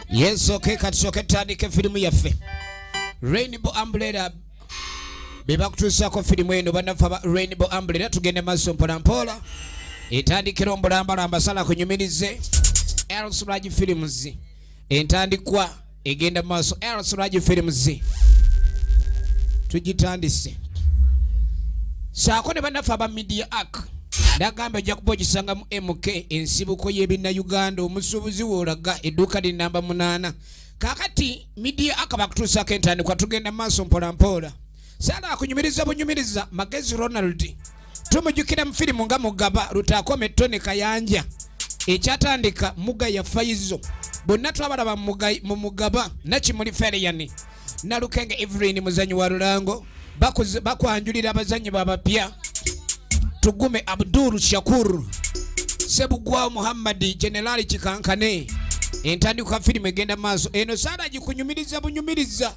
Yes, okay, katusoke tutandike firimu yaffe Rainbow Umbrella bebakutuusaako firimu eno bannaffe aba Rainbow Umbrella tugende maaso mpolampola etandikira ombulambalamba sala kunyumirize Elsraj Films entandikwa egenda mu maaso lsragi films tugitandise saako ne bannaffe aba media ak nagamba ojja kuba ogisanga mu mk ensibuko y'ebinnauganda omusuubuzi woolaga edduuka li namba munaana kakati media ak bakutuusaako entandikwa tugenda mu maaso mpolampola Sala akunyumiriza bunyumiriza magezi Ronald tumujukira mu firimu nga mugaba lutakome Tony Kayanja ekyatandika muga ya fayizo bonna twabalaba mu mugaba nakimuli fereyani nalukenge Evelyn muzanyi wa lulango bakwanjulira abazanyi babapya tugume Abdul Shakur Sebugwa Muhammad Generali Kikankane entandikwa firimu egenda maaso eno sala gikunyumiriza bunyumiriza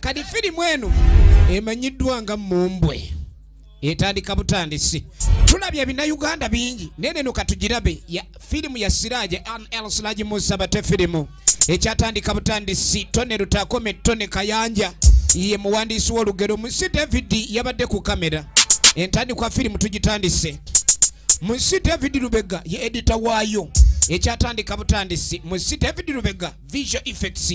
kati firimu eno emanyiddwa nga mumbwe etandika butandisi tulabye ebinayuganda bingi naye neno katugirabe firimu ya siraje nl siraje musa bate firimu ekyatandika butandisi tone lutakome tone kayanja ye muwandiisi w'olugero munsi david yabadde ku kamera entandikwa firimu tugitandise munsi david lubega ye edita waayo ekyatandika butandisi munsi david lubega visual effects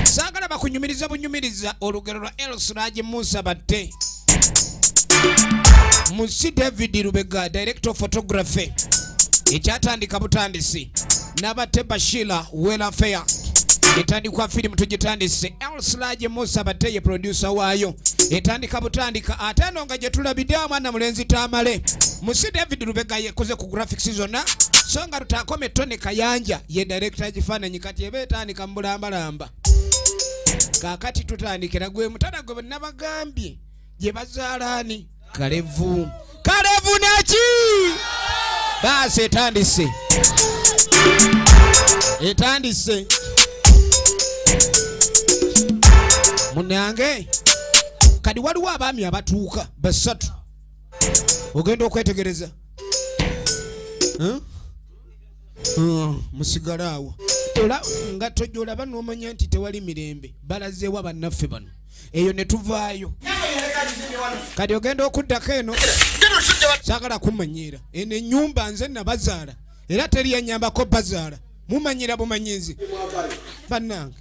saagala bakunyumiriza bunyumiriza olugero lwa elsiragi musa batte musi david lubega director photography ekyatandika butandisi nabatte bashila welafeya etandikwa firimu tugitandise elsilage musa batte ye produsa waayo etandika butandika ate eno nga gyetulabidde omwana mulenzi tamale musi david lubega yekoze ku graphics zonna so nga tutaakome tone kayanja ye director ekifaananyi kati eba etandika mubulambalamba kakati tutandikira gwe mutana gwe nabagambye gye bazaalaani kalevu kalevu naki baasi etandise etandise munange kadi waliwo abaami abatuuka basatu ogenda okwetegereza huh? hmm, musigale awo era nga tojolaba nomanya nti tewali mirembe balazeewa bannaffe bano eyo ne tuvaayo kati ogenda okuddako eno sagala kumanyiira eno enyumba nze nabazaala era teri yanyambako bazaala mumanyira bumanyizi bannange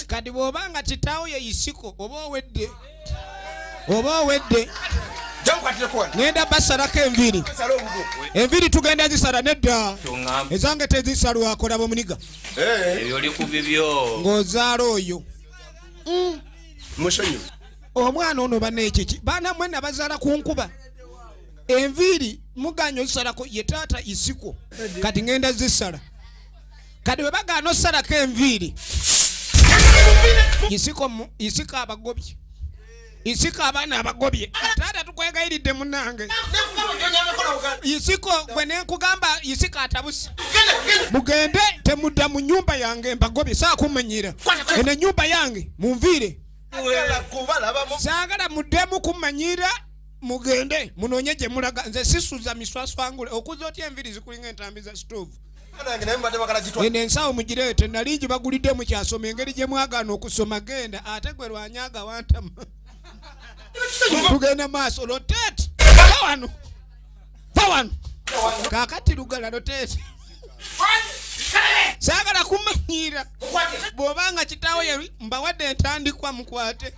kati bw'oba nga kitaawo ye isiko oba owedde oba owedde ŋenda basalako enviri enviri tugenda zisala nedda ezange tezisalwakola bomuniga eh. ng'ozaala oyo mm. omwana ono banekiki baana mwena bazaala ku nkuba enviiri muganya ozisalako ye taata isiko kati ŋenda zisala kati webagaana osalako enviiri isika abagobye isika abaana abagobye taata tukwegayiridde munange isiko gwe nenkugamba isika atabuse mugende temudda mu nyumba yange mbagobye sakumenyera eno enyumba yange munviire saagala muddemu kumanyira mugende munonye gyemulaga nze sisuza miswaswangule okuza otya enviri zikulinga entambi za stove eno ensawo mugireete nali ngibagulidde mukyasoma engeri gye mwagaana okusoma genda ate gwe lwanya agawantama tugenda maaso loteeti wano va wano kakati lugala loteeti saagala kumanyiira bw'oba nga kitaawo yali mbawadde entandikwa mukwate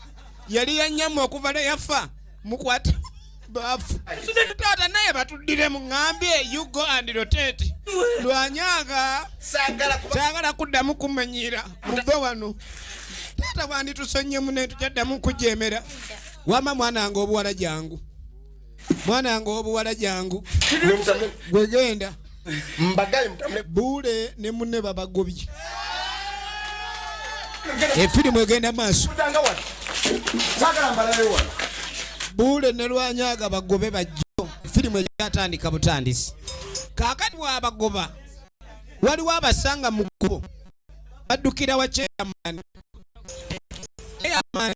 yali yanyama okuva ne yafa mukwate bafu taata naye batuddire muŋambye you go and rotate lwanyanga saagala kuddamu kumanyiira muve wano taata bwanditusonnyemu naye tukyaddamu kujemera wama mwana wange obuwala jangu mwana wange obuwala jangu gwegenda mbagaye mutambule buule ne munne babagobye efirimu egenda maaso buule ne lwanyaga bagobe bajjo efirimu egyatandika butandisi kakati wabagoba waliwo abasanga mu kkubo baddukira wa kyeyamaani eyamaani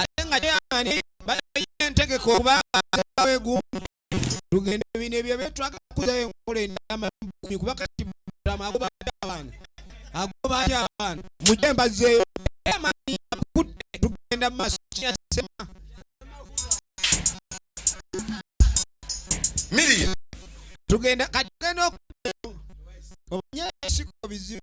ate nga kyeyamani bayiye entegeka okuba awegumu tugende bino ebyo byetwaga kuzayo enkola enamabumi kuba kati mutama agoba atya abaana agoba atya abaana muje mbazeyo amani akutte tugenda mu maaso kiyasema miriya tugenda kati tugenda oku omanye esiko bizibu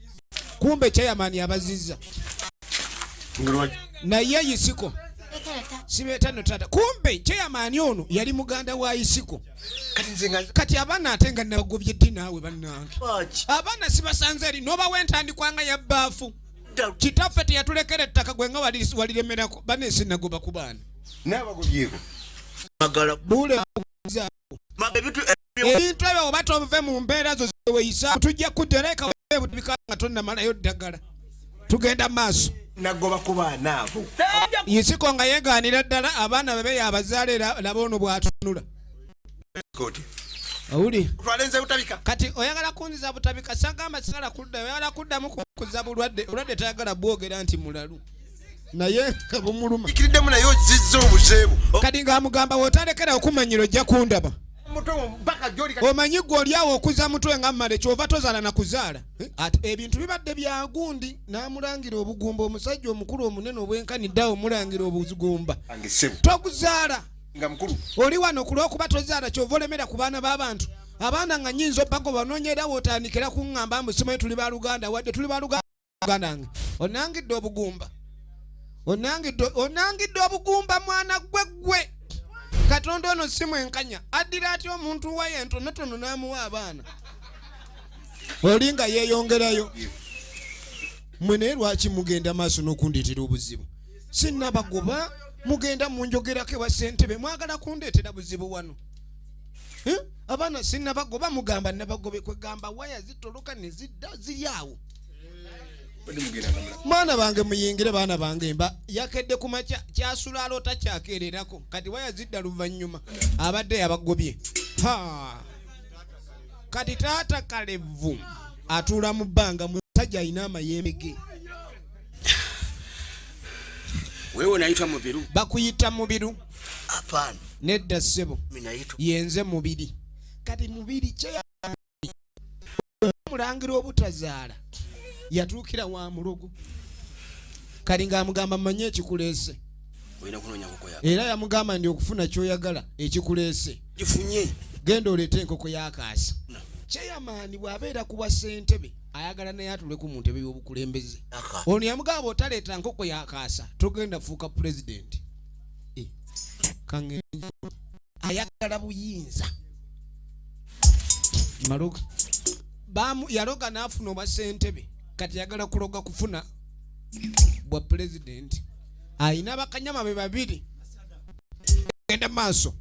kumbe chairman abaziza naye isiko sibeta no tata kumbe chairman ono yali muganda wa isiko kati abana atenga nabagobye ddi naawe bannange abana sibasanze eri noba wentandikwanga ya baafu kitaffe teyatulekera ettaka gwenga waliremerako banesinagoba ku baana nabagobyeko ebintu ebyo oba tove mu mbeera zo zeweyisa tujja kutereka butubika nga tonnamalayo ddagala tugenda mu maaso nagoba ku baana abo yisiko nga yegaanira ddala abaana bebe yabazaala era laba ono bwatunula owuli kati oyagala kunziza butabika sagamba sigala kudda oyagala kuddamu kuza bulwadde olwadde tayagala bwogera nti mulalu naye nga bumuluma ikiriddemu naye ozizza obuzeebu kati nga amugamba wotalekera okumanyira ojja kundaba omanyi gwe olyawo okuza mutwe nga mmale kyova tozaala na kuzaala eh, ati ebintu bibadde byagundi n'amulangira obugumba omusajja omukulu omunene obwenkaniddeawo omulangira obugumba tokuzaala oli wano ku lwokuba tozaala kyova olemera ku baana b'abantu abaana nga nyinza opago banoonyera wotandikira kuŋŋamba mbu simanyi tuli baluganda wadde tuli baluganda banange onangidde obugumba onangidde obugumba mwana gwe gwe katonda ono si mwenkanya addira atya omuntu waye entonotono n'amuwa abaana oli nga yeeyongerayo mwe naye lwaki mugenda maaso n'okundeetera obuzibu sinnabagoba mugenda munjogerako ewa ssentebe mwagala kundeetera buzibu wano abaana sinnabagoba mugamba nabagobe kwegamba waya zitoloka nezidda ziri awo mwana bange muyingire baana bange mba yakedde kuma kyasula aloota kyakeererako kati waya zidda luvannyuma abadde yabagobye kati taata kalevu atuula mu bbanga musajja alina amayembe ge wewe unayitwa mubiru bakuyita mubiru hapana nedda ssebo yenze mubiri kati mubiri kyeya omulangira obutazaala yatuukira wa mulogo kali ng'amugamba manye ekikuleese era yamugamba ndi okufuna kyoyagala ekikuleese genda oleete enkoko yakaasa cheyamaani bw'abeera kuwa ssentebe ayagala naye atuleku mu ntebe y'obukulembeze ono yamugamba otaleeta nkoko yakaasa togenda fuuka pulezidenti eh, ayagala buyinza maloga yaloga n'afuna obwa ssentebe kati yagala kuloga kufuna bwa pulezidenti alina bakanyama be babiri genda maaso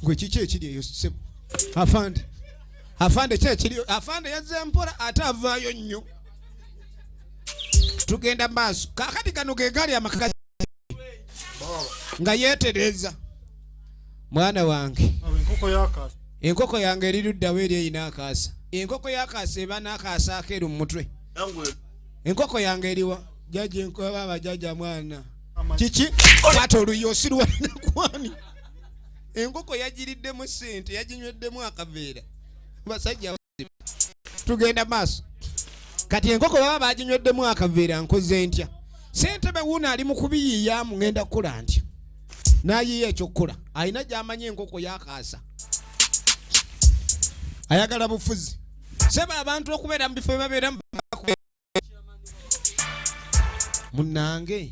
gwe kiki ekiri eyo sebo afande afande ki ekiri afande yazze mpola ate avaayo nnyo tugenda maaso kakati gano ge gaali amakagazi nga yeetereeza mwana wange enkoko yange eri luddawo eri erina akaasa enkoko yakaasa eba n'akaasa akeeru mu mutwe enkoko yange eriwa jaji enkobaba jaja mwana kiki kwata oluyi osirwanakwani enkoko yagiriddemu sente yaginyweddemu akaveera basajja tugenda maaso kati enkoko baba baginyweddemu akaveera nkoze ntya sentebe wuuno ali mu kubiyiyamu ngenda kukola ntya nayiya ekyokukola alina gyamanyi enkoko yakaasa ayagala bufuzi seba abantu okubeera mu bifo byebabeeramu munange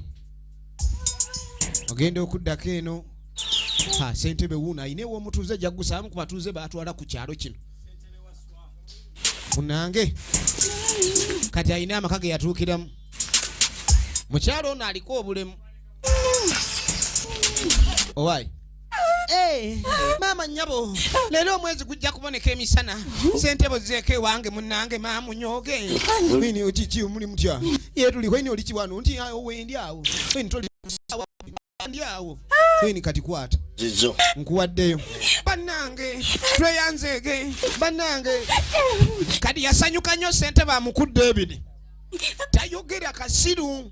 ogenda okuddako eno ha sentebe wuuno ayina ewomutuuze jagusaamu ku batuuze batwala ku kyalo kino munange kati ayina amaka ge yatuukiramu mukyalo ono aliko obulemu owaye Hey, maama nyabo leero omwezi gujja kuboneka emisana sente bozeeko ewange munange maamunyooge ini okiki muli mutya yetuliko ini oliki wano nti awo wendi awo ini toli kusawa ndi awo ini kati kwata zizo nkuwaddeyo bannange tweyanzeege bannange kati yasanyuka nnyo sente bamukudde ebiri tayogera kasiru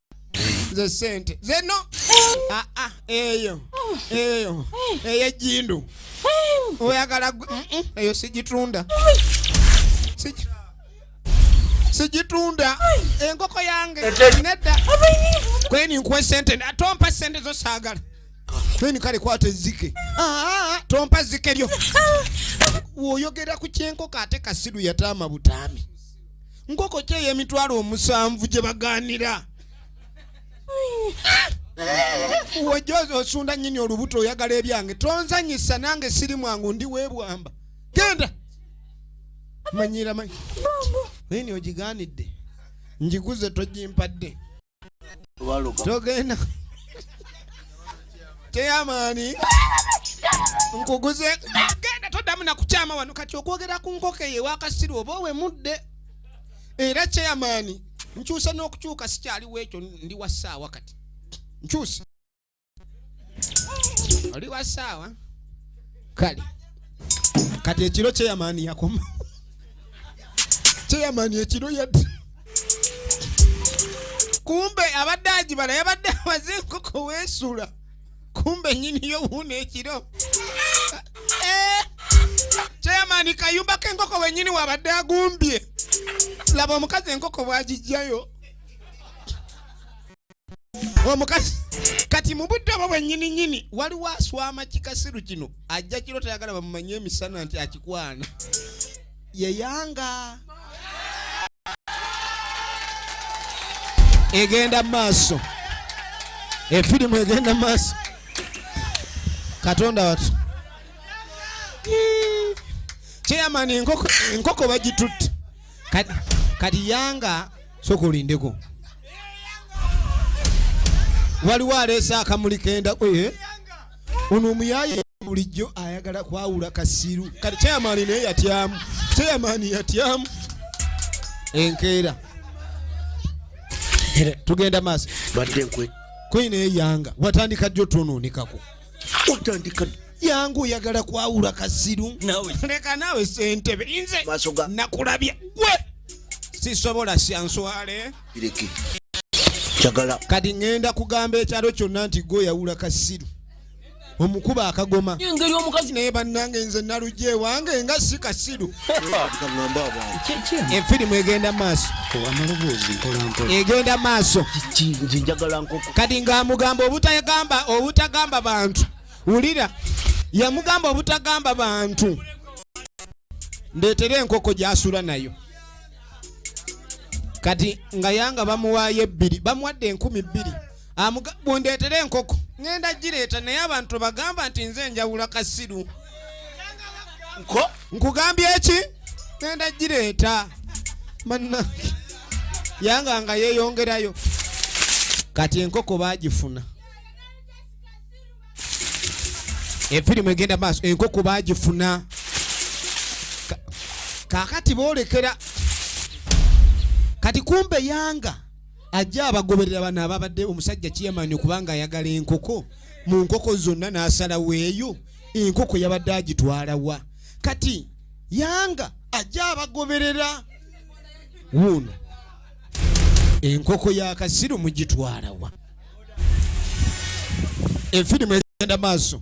nze sente zeno ah, ah, eyo eyo eyo ejindu oyagala eyo sijitunda sijitunda enkoko yange nedda kweni nkuwe sente tompa sente zosagala kweni kale kwata ezike ah, tompa zike lyo woyogera ku kyenkoko ate kasiru yataama butaami nkoko ki ey'emitwalo omusanvu gye bagaanira wojja osunda nyini olubuto oyagala ebyange tonzanyisa nange siri mwangu ndi webwamba genda manyira manyi eni ogigaanidde njiguze togimpadde togenda teyamaani nkuguze genda toddamu nakukyama wano kati okwogera ku nkoko eyo ewakasiru oba owemudde era kyeyamaani nkyusa n'okukyuka sikyaliwo ekyo ndi wa ssaawa kati nkyusa oli wa saawa kale kati ekiro kyeyamaani yakoma kyeyamaani ekiro yadde kumbe abadde agibala yabadde amaze enkoko weesula kumbe nyini yo wuuna ekiro eh, kyeyamaani kayumba k'enkoko wenyini wabadde agumbye laba omukazi enkoko bwagijjayo omukazi kati mu budde obwo bwennyini nyini waliwo aswama kikasiru kino ajja kiro tayagala bamumanye emisana nti akikwana yeyanga egenda maaso efirimu egenda maaso katonda watu chairman enkoko bagitutte kati yanga soka olindeko waliwo aleese akamuli kenda eh? ono omuyaye bulijjo ayagala kwawula kasiru kati chairman naye yatyamu chairman yatyamu enkeera tugenda maaso badde nkwe kwine eyanga watandika jjo twonoonekako watandika yangu oyagala kwawula kasiru leka naawe sentebe inze nakulabye gwe sisobola syanswale kati ŋenda kugamba ekyalo kyonna nti gwe oyawula kasiru omukuba akagoma engeri omukazi naye bannange nze nalugya ewange nga si kasiru enfirimu egenda maaso egenda maaso kati ngaamugamba obutagamba obutagamba bantu wulira yamugamba obutagamba bantu ndeetera enkoko gyasula nayo kati nga yanga bamuwaayo ebbiri bamuwadde enkumi bbiri bundeetere enkoko ŋenda gireeta naye abantu bagamba nti nze enjawula kasiru nkugambye eki ŋenda gireeta manna yanga nga yeyongerayo kati enkoko bagifuna efirimu egenda maaso enkoko bagifuna kakati boolekera kati kumbe yanga ajja abagoberera bano ababadde omusajja kiyamani okubanga ayagala enkoko mu nkoko zonna n'asalawo eyo enkoko yabadde agitwala wa kati yanga ajja abagoberera wuuno enkoko ya kasiru mugitwala wa efirimu egenda maaso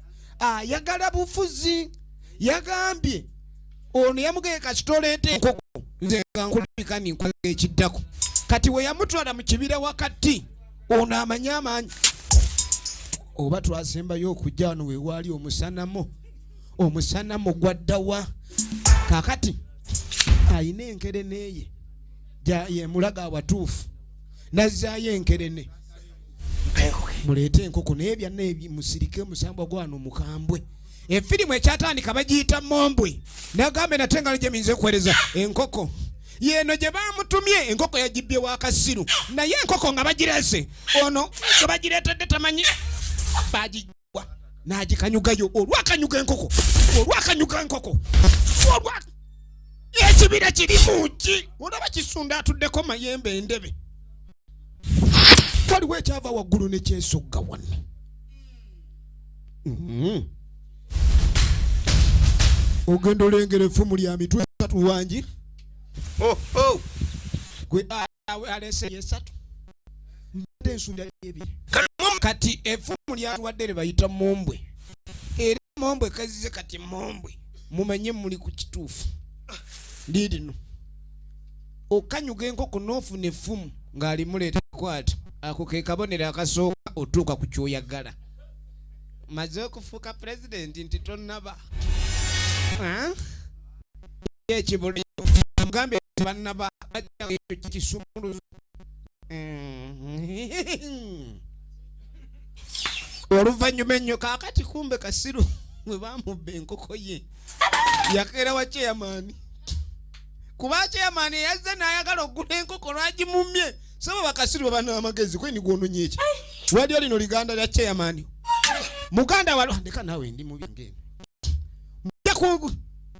ayagala bufuzi yagambye ono yamugeye kasitoleete nkoko nze nga nkulabika ninkwega ekiddako kati we yamutwala mu kibira wakati ono amanyi amaanyi oba twasembayo okujja wano wewaali omusanamo omusanamo gwaddawa kakati ayina enkereneeye yemulaga awatuufu nazzaayo enkerene muleete enkoko naye byanna ebi musirike musambwa gwano mukambwe efirimu ekyatandika bagiyita mombwe nagambe nate nga nojemiyinza okuwereza enkoko yeno gye bamutumye enkoko yagibbye wakasiru naye enkoko nga bagirese ono nga bagireetedde tamanyi bagi n'agikanyugayo olwakanyuga enkoko olwakanyuga enkoko olwa ekibira kiri mungi olaba kisunda atuddeko mayembe endebe waliwo ekyava waggulu nekyesogga wanne mm-hmm. ogenda olengera effumu lya mitwe tatu wangi oh, oh. gwe alese yesatu mbadde nsuubira ebye kati efumu lyatuwadde lye bayita mombwe era mombwe kazize kati mombwe mumanye muli ku kituufu liirino okanyuga enkoko n'ofuna effumu ng'alimuleeta kwata ako ke kabonero akasooka otuuka ku kyoyagala maze okufuuka pulezidenti nti tonnaba ye ekibuli mugambe banna ba bajja ekyo kisumulu oluvannyuma ennyo kaakati kumbe kasiru mwe bamubba enkoko ye yakeera wa ceyamaani kuba ceyamaani eyazze n'ayagala okugula enkoko lwagimumye saba bakasiru babana amagezi kweni gwononye eki wali olino liganda lya ceyamaani muganda walondeka nawe ndi mubingeeno mujja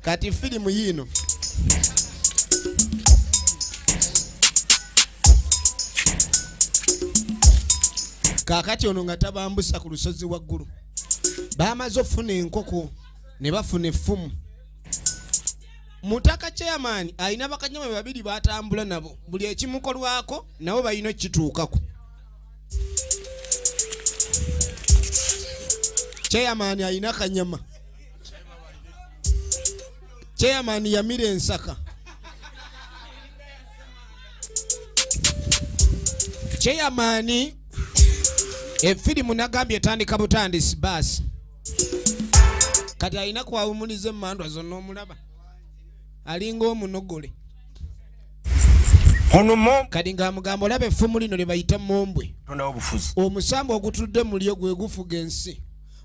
kati filimu yiino kaakati ono nga tabambusa ku lusozi waggulu bamaze okufuna enkoko ne bafuna effumu mutaka chairman alina bakanyama be babiri batambula nabo buli ekimukolwako nabo balina okukituukako chairman alina kanyama chairman yamira ensaka chairman efirimu nagambye etandika butandisi baasi kati alina kwawumuliza emandwa zonna omulaba alinga omunogole kati ng'amugamba olaba effumu lino lye bayita mombwe omusambo ogutudde mulyo gwe gufuga ensi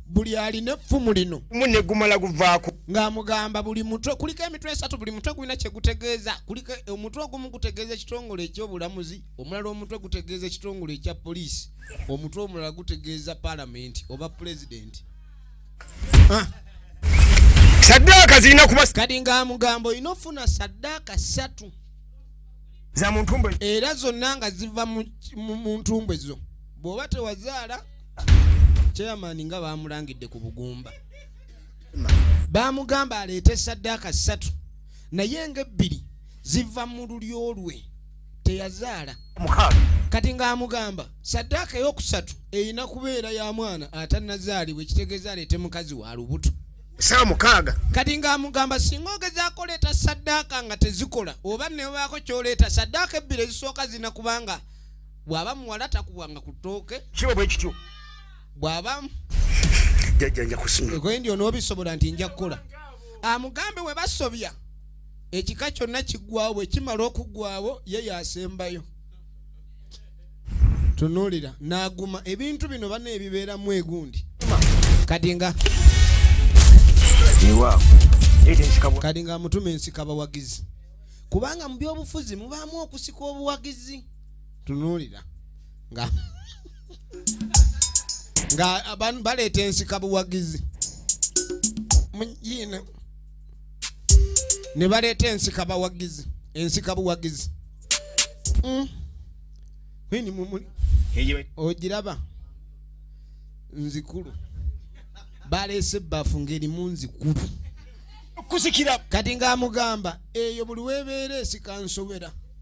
buli alina effumu lino mu ne gumala guvaako ng'amugamba buli mutwe kuliko emitwe esatu buli mutwe gulina kye gutegeeza kuliko omutwe ogumu gutegeeza ekitongole eky'obulamuzi omulala omutwe gutegeeza ekitongole ekya poliisi omutwe omulala gutegeeza palamenti oba pulezidenti ah. saddaaka zirina kuba kati ng'amugambo olina ofuna saddaaka ssatu za muntumbwe era zonna nga ziva mu ntumbwe zo bw'oba tewazaala chairman nga bamulangidde ku bugumba bamugamba aleete saddaaka ssatu naye ngaebbiri ziva mu lulyo lwe teyazaala kati ng'amugamba saddaaka ey'okusatu erina kubeera ya mwana atanazaalibwa ekitegeeza aleete mukazi wa lubuto saa mukaaga kati ng'amugamba singa ogezaako oleeta saddaaka nga tezikola oba nebaako kyoleeta saddaaka ebbiri ezisooka zina kubanga bw'aba muwala takubwanga ku ttooke kiba bwe kityo bw'aba jajja nja kusima endi onoobisobola nti nja kukola amugambe we basobya ekika kyonna kiggwawo bwe kimala okuggwawo ye yasembayo tunuulira n'aguma ebintu bino bana ebibeeramu egundi kati nga kati nga amutuma ensika bawagizi kubanga mu byobufuzi mubaamu okusika obuwagizi tunuulira nga nga abantu baleeta ensika buwagizi mujiina ne baleeta ensika bawagizi ensika buwagizi mm. ogiraba nzikulu baleese ebbafu ng'erimu nzikulu kusikira kati ng'amugamba eyo buli webeera esika nsobera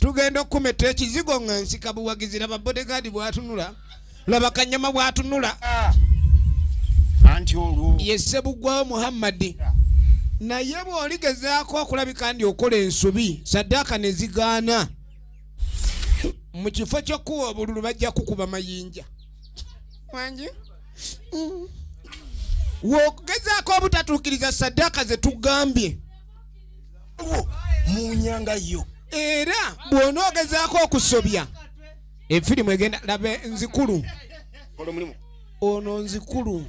tugenda okukumetta ekizigo nga nsika buwagizi laba bodegaadi bwatunula laba kanyama bwatunula ah. anti olwo yesse buggwawo muhammadi ah. naye bw'oligezaako okulabika ndi okola ensobi saddaaka ne zigaana mu kifo ky'okuwa obululu bajja kukuba mayinja wangi mm. wokugezaako obutatuukiriza saddaaka ze tugambye mu nyanga yo era bw'onoogezaako okusobya efirimu egenda laba nzikulu ono nzikulu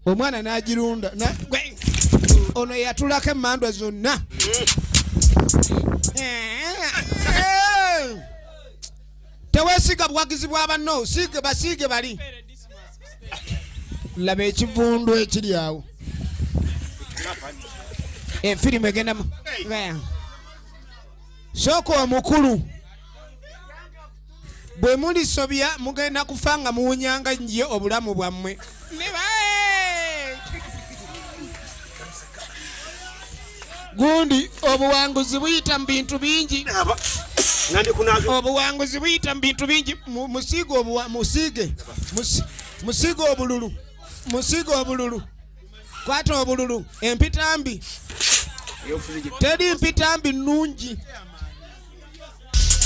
omwana n'agirunda ono yatulako emmandwa zonna tewesiga buwagizi bwa banno siige basiige bali laba ekivundu ekiri awo efirimu egendamu sooka omukulu bwe mulisobya mugenda kufa nga muwunyanga nnyo obulamu bwammwe gundi obuwanguzi buyita mu bintu bingi obuwanguzi buyita mu bintu bingi musiige obuwa musiige musiige obululu musiige obululu kwata obululu empitambi teri mpitambi nungi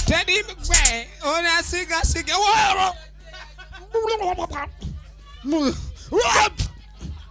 teri gwe onasiigasiige woro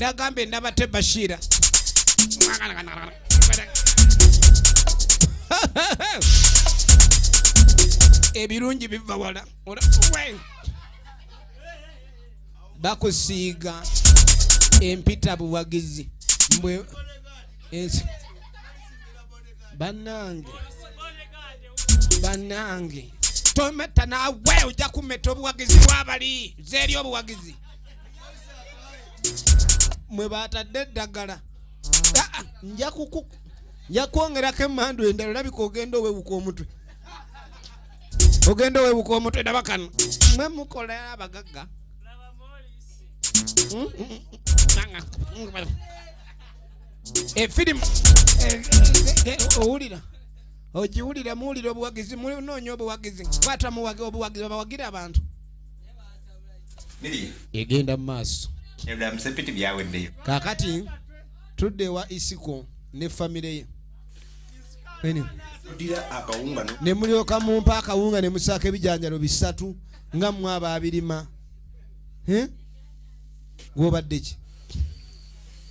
nagambye nabate bashira ebirungi biva wala bakusiiga empita buwagizi mbwe ensi banange banange tometa nawe ojja kumeta obuwagizi bwabali zeri obuwagizi mwe batadde eddagala nja kuku nja kwongerako emandu endala olabika ogenda owewuka omutwe ogenda owewuka omutwe daba kano mwe mukola abagagga hmm? efirimu eh, eh, eh, owulira ogiwulira muwulira obuwagizi munoonya obuwagizi kwata muwagi obuwagizi babawagira abantu egenda mu maaso kakati tudde ewa isiko ne famire ye ne mulyoka mumpa akawunga ne musaako ebijanjalo bisatu nga mwe abaabirima gwobadde ki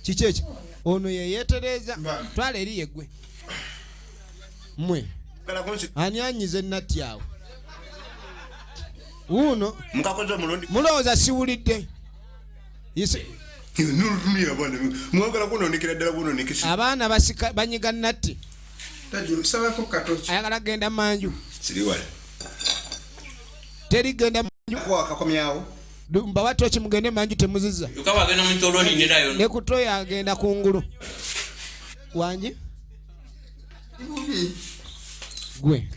kiki ekyo ono yeyetereeza twala eri yegwe mwe ani anyize natti awo wuuno mukakoze omulundi mulowooza siwulidde abaana banyiga natti ayagala genda manju teri genda manju mbawa toki mugende manju temuziza nekutoyo agenda ku ngulu wangi gwe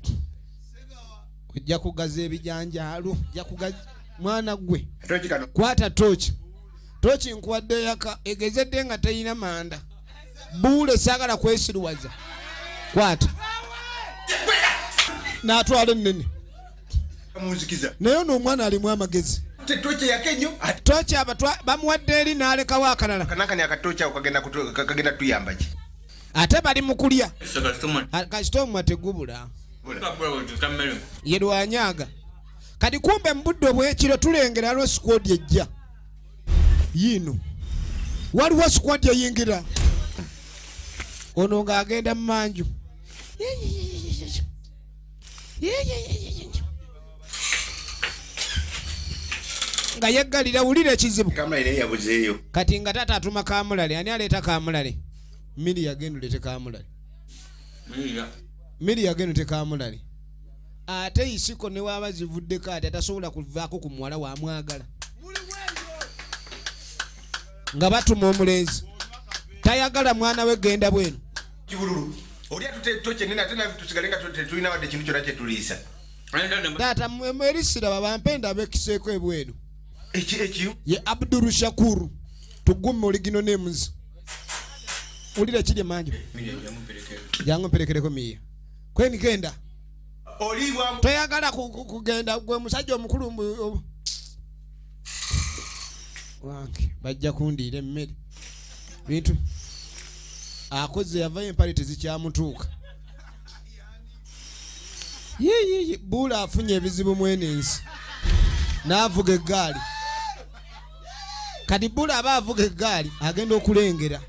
ojja kugaza ebijanjaalu ojja kugaza mwana gwe kwata tooki tooki nkuwadde yaka egezedde nga teyina manda buule saagala kwesiruwaza kwata natwala ennene naye ono omwana alimu amagezi tooki aba bamuwadde eri n'alekawo akalala ate bali mu kulya kasita omwa tegubula ye lwanyaga kati kumbe mu budde obwekiro tulengera lwo sikwodi ejja yiino waliwo sikwodi eyingira ono ng'agenda mu manju nga yeggalira wulira ekizibu kati nga taata atuma kamulale ani aleeta kamulale miri yagenda ulete kamulale miri yagenda tekamulali ate isiko newaba zivuddeko ati atasobola kuvaako ku muwala wamwagala nga batuma omulenzi tayagala mwana we genda bwenu kibululu oli atuteto kyenene ate nafe tusigale nga tetulina wadde ekintu kyona kyetuliisa taata mwerisiraba bampe endaba ekiseeko ebwenu ye abduru shakuru tugume oligino nemuzi ulira kiri emanju jangu mperekereko miya kweni genda toyagala kugenda gwe musajja omukulu wange bajja kundiira emmere bintu akoze yavayo empale tezikyamutuuka yiyiyi buula afunye ebizibu mwene ensi n'avuga eggaali kati bula aba avuga eggaali agenda okulengera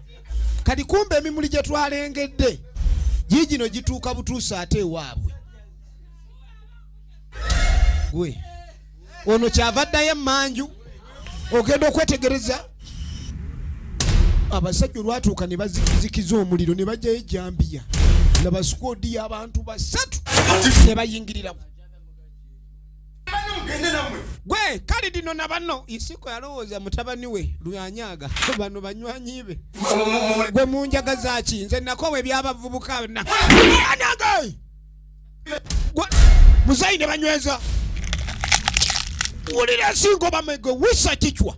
kati kumba emimuli gye twalengedde giigino gituuka butuusa ate ewaabwe gwe ono kyava ddayo emanju ogenda okwetegereza abasajja olwatuuka ne bazikiza omuliro ne bajjayo ejambiya nabasikoodiyo abantu basatu ne bayingiriramu gwe kale dino na banno isiko yalowooza mutabani we lwanyaga bano banywanyi be gwe munjaga zaki nze nakowa ebyabavubuka na muzayi ne banyweza wulira singo bamege wisa kicwa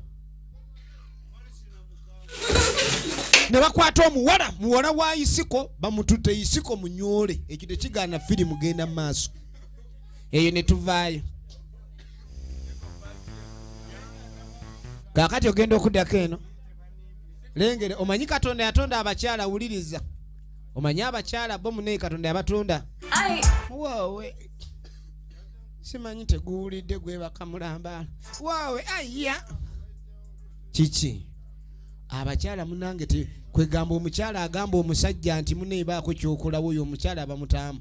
ne bakwata omuwala muwala wa isiko bamutute isiko munyole ekyo tekigaana firimu genda mu maaso eyo ne tuvaayo kaakati ogenda okuddako eno lengere omanyi katonda yatonda abakyala wuliriza omanyi abakyala bo munaye katonda yabatonda woowe simanyi teguwulidde gwebaka mulambaala woowe aiya kiki abakyala munange kwegamba omukyala agamba omusajja nti muneebaako kyokolawo oyo omukyala abamutaamu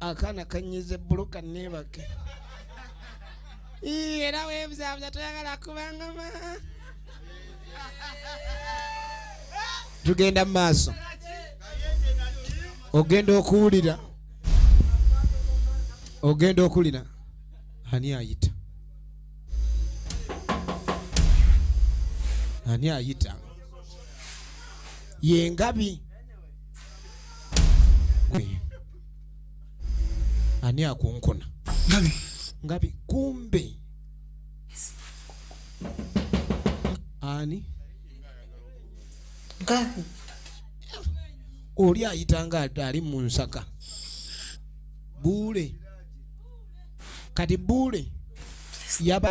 akaana kanyize bulu kaneebake era webuzabuza toyagala kubangama tugenda mu maaso ogenda okuwulira ogenda okulira ani ayita ani ayita yengabi ani akunkuna ngabi ngabi kumbe ani ngabi oli ayita nga ali mu nsaka buule kati buule yaba